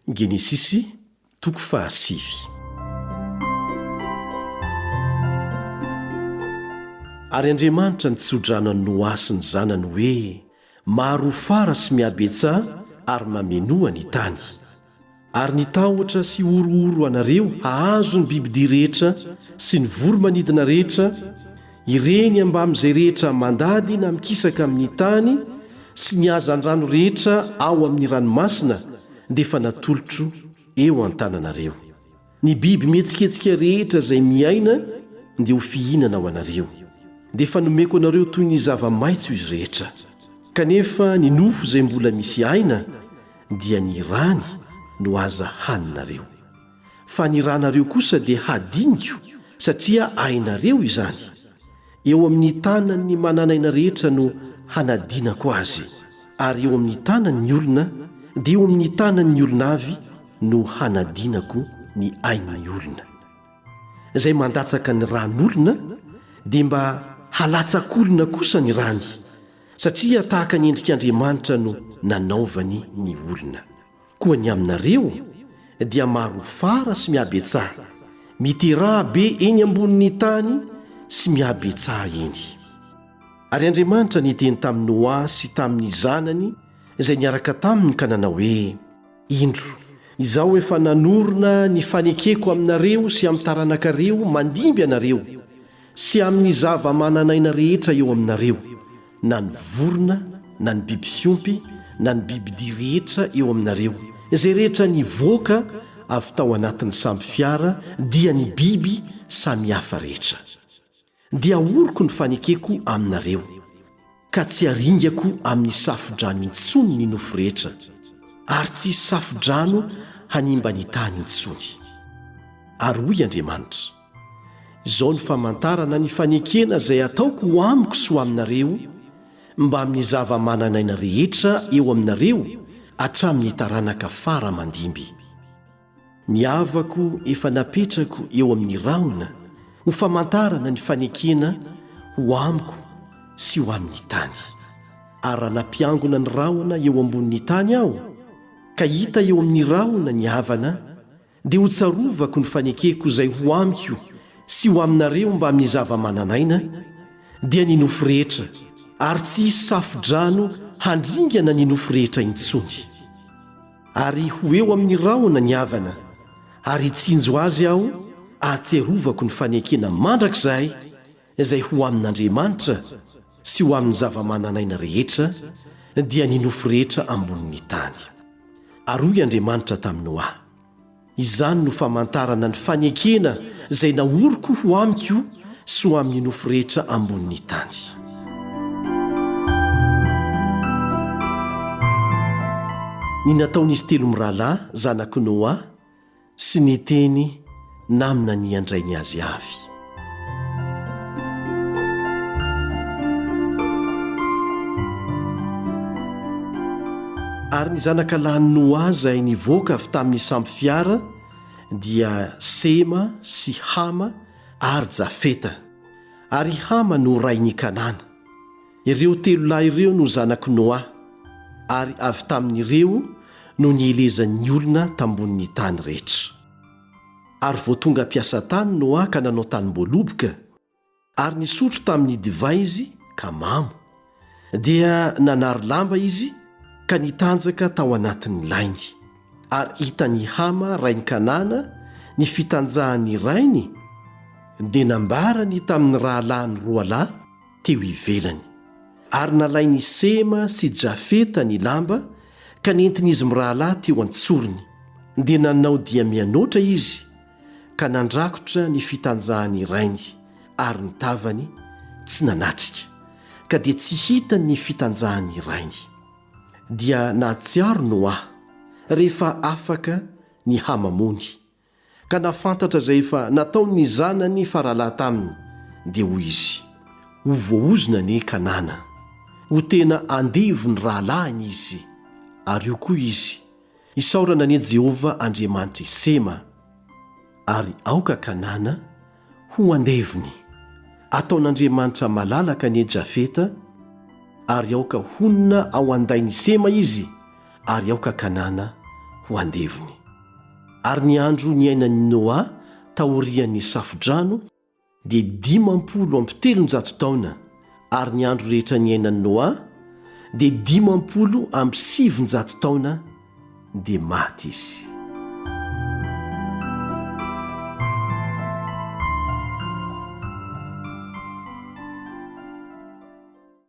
Genesisy, toko fahasivy. Ary Andriamanitra nitso-drano an'i Noa sy ny zanany hoe, Maro ho fara sy mihabetsaha ary mamenoa ny tany. Ary ny tahotra sy horohoro anareo hahazo ny bibidia rehetra sy ny voro-manidina rehetra, Ireny ambamin'izay rehetra mandady na mikisaka amin'ny tany sy ny hazandrano rehetra ao amin'ny ranomasina dia efa natolotro eo an-tananareo. Ny biby mihetsiketsika rehetra izay miaina dia ho fihinana ho anareo. Dia efa nomeko anareo toy ny zava-maitso izy rehetra. Kanefa ny nofo izay mbola misy aina dia ny rany no aza haninareo. Fa ny ranareo kosa dia hadiniko, satria ainareo izany. Eo amin'ny tanan'ny manan'aina rehetra no hanadinako azy, ary eo amin'ny tanan'ny olona, dia eo amin'ny tanan'ny olona avy no hanadinako ny ain'ny olona. Izay mandatsaka ny ran'olona, dia mba halatsak'olona kosa ny rany, satria tahaka ny endrik'Andriamanitra no nanaovany ny olona. Koa ny aminareo dia marohofara sy mihabetsaha, miteraha be eny ambonin'ny tany sy mihabetsaha eny. Ary Andriamanitra niteny tamin'i Noa sy tamin'ny zanany izay niaraka taminy ka nanao hoe, Indro, Izaho efa nanorina ny fanekeko aminareo sy amin'ny taranakareo mandimby anareo, Sy amin' ny zava-manan' aina rehetra eo aminareo, na ny vorona, na ny biby fiompy, na ny bibidia rehetra eo aminareo, izay rehetra nivoaka avy tao anatin' ny sambo fiara, dia ny biby samy hafa rehetra. Dia ahoriko ny fanekeko aminareo. ka tsy haringako amin'ny safo-drano intsony ny nofo rehetra, ary tsy hisy safo-drano hanimba ny tany intsony. Ary hoy Andriamanitra, Izao no famantarana ny fanekena izay hataoko ho amiko sy ho aminareo, mbamin'ny zava-manan'aina rehetra eo aminareo hatramin'ny taranaka fara aman-dimby. Ny havako efa napetrako eo amin'ny rahona ho famantarana ny fanekena ho amiko sy ho amin'ny tany. Ary raha nampiangona ny rahona eo ambonin'ny tany aho, ka hita eo amin'ny rahona ny havana, dia ho tsarovako ny fanekeko izay ho amiko sy ho aminareo mbamin'ny zava-manan'aina, dia ny nofo rehetra, ary tsy hisy safo-drano handringana ny nofo rehetra intsony. Ary ho eo amin'ny rahona ny havana, ary hitsinjo azy aho ahatsiarovako ny fanekena mandrakizay izay ho amin'Andriamanitra sy ho amin'ny zava-manan'aina rehetra, dia ny nofo rehetra ambonin'ny tany. Ary hoy Andriamanitra tamin'i Noa. Izany no famantarana ny fanekena izay naoriko ho amiko sy ho amin'ny nofo rehetra ambonin'ny tany. Ny nataon'izy telo mirahalahy, zanak'i Noa, sy ny teny naminanian-drainy azy avy. Ary ny zanaka lahin'i Noa izay nivoaka avy tamin'ny sampy fiara dia Sema sy Hama ary Jafeta. Ary i Hama no rain'i Kanana. Ireo telo lahy ireo no zanak'i Noa, ary avy tamin'ireo no nielezan'ny olona tambonin'ny tany rehetra. Ary vao tonga mpiasa tany no haka nanao tanim-boaloboka, ary nisotro tamin'ny divay izy ka mamo. Dia nanary lamba izy ka nitanjaka tao anatin'ny lainy. Ary hitan'i Hama rain'i Kanana ny fitanjahan'ny rainy, dia nambarany tamin'ny rahalahiny roalahy teo ivelany. Ary nalain' i Sema sy i Jafeta ny lamba ka nentin' izy mirahalahy teo an-tsorony, dia nanao dia mianoatra izy ka nandrakotra ny fitanjahan' i rainy, ary ny tavany tsy nanatrika, ka dia tsy hitany ny fitanjahan' i rainy. Dia nahatsiaro Noa, rehefa afaka ny hamamony, Ka nahafantatra izay efa nataon'ny zanany faralahy taminy, dia hoy izy, Ho voaozona anie Kanana. Ho tena andevo ny rahalahiny izy. Ary io koa izy, Isaorana anie Jehovah Andriamanitr'i Sema, ary aoka Kanana Ho andevony, ataon'Andriamanitra malalaka anie Jafeta, ary aoka honina ao an-dain'i Sema izy, ary aoka Kanana ho andevony. Ary ny andro niainan'i Noa taorian'ny Safo-drano dia dimampolo amby telonjato taona, ary ny andro rehetra niainan'i Noa dia dimampolo amby sivin-jato taona dia maty izy.